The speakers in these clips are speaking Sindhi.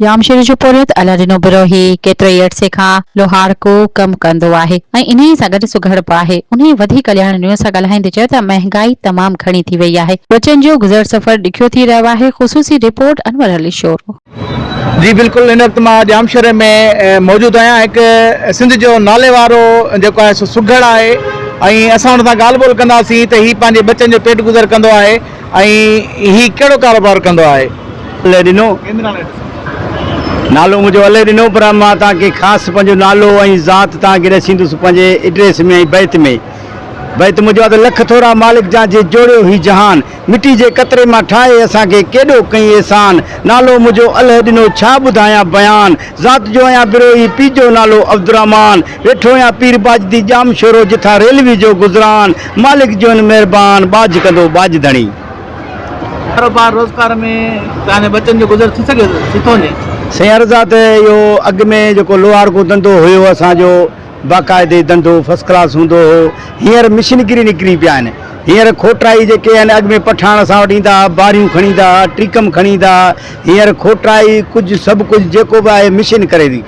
ڄامشوري جو پورهيت الله ڏنو بروهي ڪيتري ئي عرصي کان لوهارڪو ڪم ڪندو آهي ۽ انهيء سان گڏ سگهڙ به آهي. انهيء وڌي ڪلياڻي نيوز سان ڳالهائيندي چيو ته مهنگائي تمام گهڻي ٿي وئي آهي. ٻچن جو گذر سفر ڏکيو ٿي رهيو آهي. خصوصي رپورٽ، انور علي شورو. جي بلڪل ان وقت مان ڄامشوري ۾ موجود آهيان هڪ سنڌ جو ناليوارو جيڪو آهي سو سگهڙ آهي ۽ اسان ان سان ڳالهه ٻولهه ڪنداسين ته هي پنهنجي ٻچن جو پيٽ گذر ڪندو آهي. ۽ هي ڪهڙو ڪاروبار ڪندو آهي؟ علي ڏنو. نالو منهنجو علي ڏنو پر مان توهان کي خاص پنهنجو نالو ۽ ذات توهان کي ڏسيندس پنهنجي ايڊريس ۾ ۽ بيت ۾. بيت منهنجو آهي ته لک ٿورا مالڪ جا جي جوڙيو هي جهان مٽي جي قطري مان ٺاهي اسان کي ڪيڏو ڪئين احسان نالو منهنجو علي ڏنو ڇا ٻڌايان بيان ذات جو آهيان بروهي پيء جو نالو عبدالرحمان ويٺو يا پير ٻاجھ دي ڄام شورو جٿا ريلوي جو گذران مالڪ جوين مھربان ٻاجھ ڪندو ٻاجھ ڌڻي. ڪاروبار روزگار ۾ تنهنجي ٻچن جو گذر ٿي سگهي ٿو ٿي ڪونهي. سائين عرض آ ته اهو اڳ ۾ جيڪو لوهارڪو ڌنڌو هيو اسان جو باقاعدي ڌنڌو فرسٽ ڪلاس هوندو هو هينئر مشينگري نڪري پيا آهن هينئر کوٽرائي جيڪي آهن اڳ ۾ پٺاڻ اسان وٽ ايندا ها باريون کڻي ايندا ها ٽريڪم کڻي ايندا ها هينئر کوٽرائي ڪجهه سڀ ڪجهه جيڪو به آهي مشين ڪري ٿي.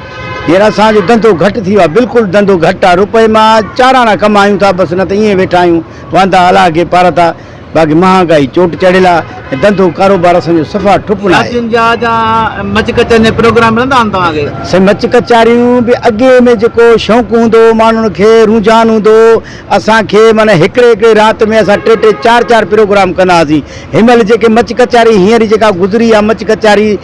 هينئر اسان جو ڌنڌو گهٽ ٿي ويو آهي. بلڪل ڌنڌو گهٽ آهي. روپئي مان چار آنا ڪمايون ٿا بس نه ته ائين ويٺا آهيون واندا الاهه کي پارتا. باقي مهانگائي چوٽ چڙهيل آهي ۽ ڌنڌو ڪاروبار اسان جو صفا ٺپ ناهي. شادين جا جا مچ ڪچهرين جا پروگرام ملندا آهن توهان کي؟ سائين مچ ڪچهريون به اڳي ۾ جيڪو شوق هوندو هو ماڻهن کي رونجهان هوندو هو اسان کي معنيٰ هڪڙي هڪڙي رات ۾ اسان ٽي ٽي چار چار پروگرام ڪندا هئاسين هن مهل جيڪي مچ ڪچهري هينئر جيڪا گذري آهي مچ ڪچهري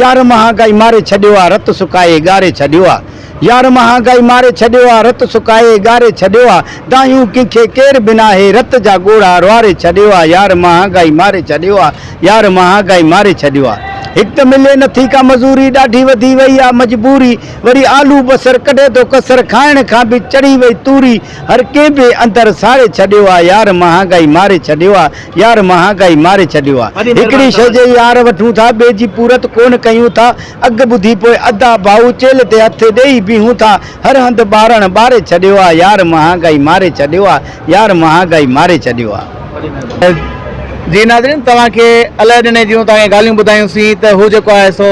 يار مهانگائي ماري ڇڏيو آ رت سڪائي ڳاري ڇڏيو آ يار مهانگائي ماري ڇڏيو آ رت سڪائي ڳاري ڇڏيو آ دانهيون ڪنهن کي ڪير به ناهي رت جا ڳوڙها روئاري ڇڏيو آ يار مهانگائي ماري ڇڏيو آ يار مهانگائي ماري ڇڏيو آ هڪ ته ملي نٿي ڪا مزوري ڏاڍي وڌي وئي آ مجبوري وري آلو بصر ڪڍي ٿو ڪسر کائڻ کان به چڙهي وئي توري هر ڪنهن به اندر ساڙي ڇڏيو آ يار مهانگائي ماري ڇڏيو آ. يار مهانگائي ماري ڇڏيو آ هڪڙي شئي جي يار وٺون ٿا ٻئي جي پورت ڪونه ڪيون ٿا اگهه ٻڌي پوء ادا ڀائو چيلهه تي هٿ ڏيئي بيهون ٿا هر هنڌ ٻارڻ ٻاري ڇڏيو آ يار مهانگائي ماري ڇڏيو آ يار مهانگائي ماري ڇڏيو آ. جي ناظرين توهان کي الائي ڏني جون تان کي ڳالهيون ٻڌايون سين ته هو جيڪو آهي سو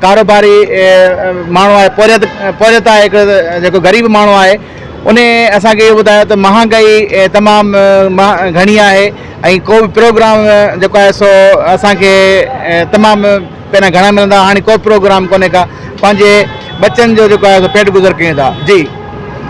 ڪاروباري ماڻهو آهي پورهيت پورهيت آهي هڪڙو جيڪو غريب ماڻهو آهي انهي اسان کي اهو ٻڌايو ته مهانگائي تمام گهڻي آهي ۽ ڪو به پروگرام جيڪو آهي سو اسان کي تمام پهريان گهڻا ملندا هئا هاڻي ڪو پروگرام ڪونهي ڪا پنهنجي ٻچن جو جيڪو آهي سو پيٽ گذر ڪيون ٿا جي.